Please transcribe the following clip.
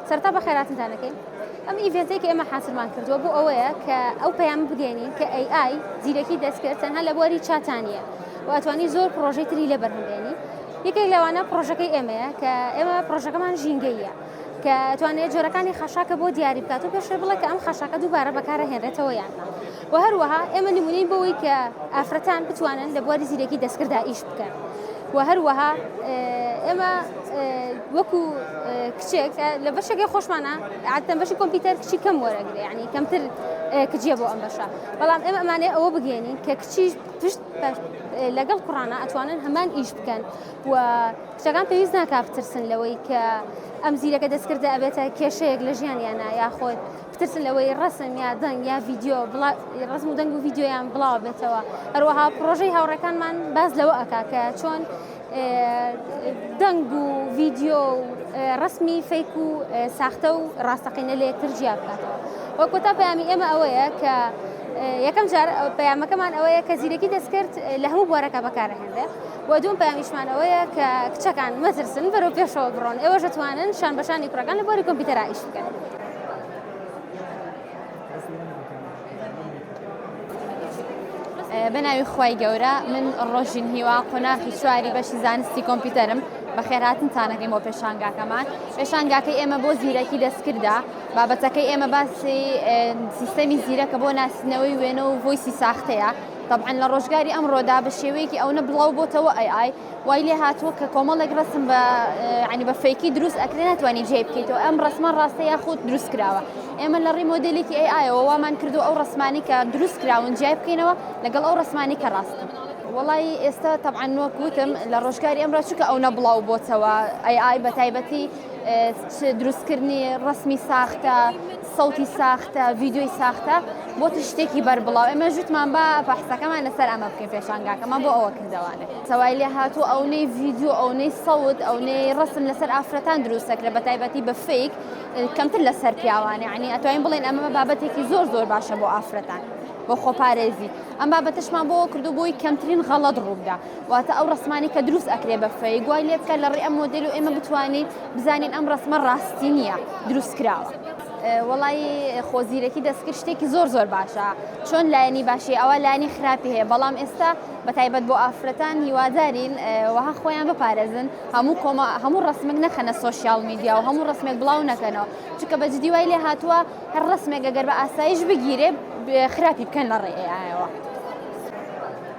سەرتا بە خێراتنتان دەکەین ئەم ئیڤێنتێک ئێمە حاصلمان کردووە بۆ ئەوەیە کە ئەو پەیام بگەێنین کە AI زیرەکی دەستکرد تەنها لە بواری چاتانە واتوانی زۆر پرۆژەی تری لە بەرهەمێنی یەکێک لەوانە پرۆژەکەی ئێمەیە کە ئێمە پرۆژەکەمان ژینگەیە کە توانێت جۆرەکانی خەشاکە بۆ دیاری بکات و پێشێ بڵێ کە ئەم خەشاکە دووبارە بەکارە هێنرێتەوە یان وە هەروەها ئێمە نمونەین بەوەی کە ئافرەتان بتوانن لە بواری زیرەکی دەستکردا ئیش بکەن وە هەروەها ئێمە وەکو کچێک لە بەشەکەی خۆشمانە عادەن بەشی کۆمپیوتەر کچی کەم وەرەگرێ ینی کەمتر کجیە بۆ ئەم بەشە بەڵام ئێمە ئەمانێ ئەوە بگەێنین کە کچی پشت لەگەڵ کوڕانە ئەتوانن هەمان ئیش بکەن و کچەکان پێویست ناکافترسن لەوەی کە ئەم زیرەکە دەستکردە ئەبێتە کێشەیەک لە ژیانیانە یاخۆت بترسن لەوەی ڕەسم یا دەنگ یا ڤیدیۆ بڵا... ڕەسم و دەنگ و ڤیدیۆیان بڵاو بێتەوە هەروەها پرۆژەی هاوڕێکانمان باز لەوە ئەکا کە چۆن دەنگ و ڤیدیۆ و ڕسمی فەیک و ساختە و ڕاستەقینە لە یەکتر جیا بکاتەوە وە کۆتا پەیامی ئێمە ئەوەیە کە یەکەم جار پەیامەکەمان ئەوەیە کە زیرەکی دەستکرد لە هەموو بوارەکە بەکارهێنرێ و دوم پەیامیشمان ئەوەیە کە کچەکان مەترسن بەرەو پێشەوە بڕۆن ئێوەش دەتوانن شان بەشانی کوڕەکان لە بواری کۆمپیوتەرا ئیش بکەن. بەناوی خی گەورە من ڕۆژین هیوا قۆناخی چواری بەشی زانستی کۆمپیوتەرم بەخێراتن تانەکەی بۆ پێشانگاکەمان پێشانگاکەی ئێمە بۆ زیرەکی دەستکردا بابەتەکەی ئێمە باسی سیستەمی زیرەکە بۆ ناسنەوەی وێنە و هۆیسی ساختەیە طبعاً لە ڕۆژگاری ئەمڕۆدا بە شێوەیەکی ئەوە بڵاو بۆتەوە ئەی ئای وای لێ هاتووە کە کۆمەڵێک ڕسم بە ینی بە فەیکی دروست ئەکرێ ناتوانانی جێ بکەیتەوە ئەم ڕسمە ڕاستە یاخود دروست کراوە ئێمە لە ڕی مۆدلێکی ئەی ئایەوە وامان کردو ئەو ڕسمانی کە دروست کراون جیای بکەینەوە لەگەڵ ئەو ڕسمانی کە ڕاستن. وڵی ئێستا تەعاان نۆک وتم لە ڕۆژگاری ئەمڕا چکە ئەو نەبڵاو بۆتەوە ئەی ئای بە تایبەتی دروستکردنی ڕسمی ساختە سەوتی ساختە ڤیددیۆی ساختە بۆتی شتێکی بەربڵاو ئێمە ژوتمان بە بەحسەکەمان لەسەر ئەمە بکەین پێشانگاکەمان بۆ ئەوە کردوانێ سەوای لێ هاتوو ئەونەی ڤیددیو ئەونەی سەوت ئەونەی ڕسم لەسەر ئافرەتان دروستەکرە بە تایبەتی بە فیک کەمتر لەسەر پیاوانێ عنی ئەتوانین بڵێن ئەمە بابەتێکی زۆر زۆر باشە بۆ ئافرەتان بۆ خۆپارێزی ئەم بابەتشمان بۆ کردو بۆی کەمترین غەڵت ڕوودا واتە ئەو ڕسمانەی کە دروست ئەکرێ بە فەیک وای لێ بکە لە ڕێ ئەم مۆدل و ئێمە بتوانین بزانین ئەم ڕسمە ڕاستی نییە دروست کراوە. وەڵی خۆزیرەکی دەستکرد شتێکی زۆر زۆر باشە چۆن لایەنی باشی ئەوە لانی خراپی هەیە بەڵام ئێستا بە تایبەت بۆ ئافرەتان هیوادارین وەها خۆیان بپارێزن هەموو کۆمە هەموو ڕسمێک نەخەنە سوۆسیال میدیا و هەموو ڕسمێک بڵاو نەکەنەوە چکە بە جدی وای لێ هاتووە هەر ڕسمێک گەگەر بە ئاسایش بگیرێ خراپی بکەن لە ڕێەوە.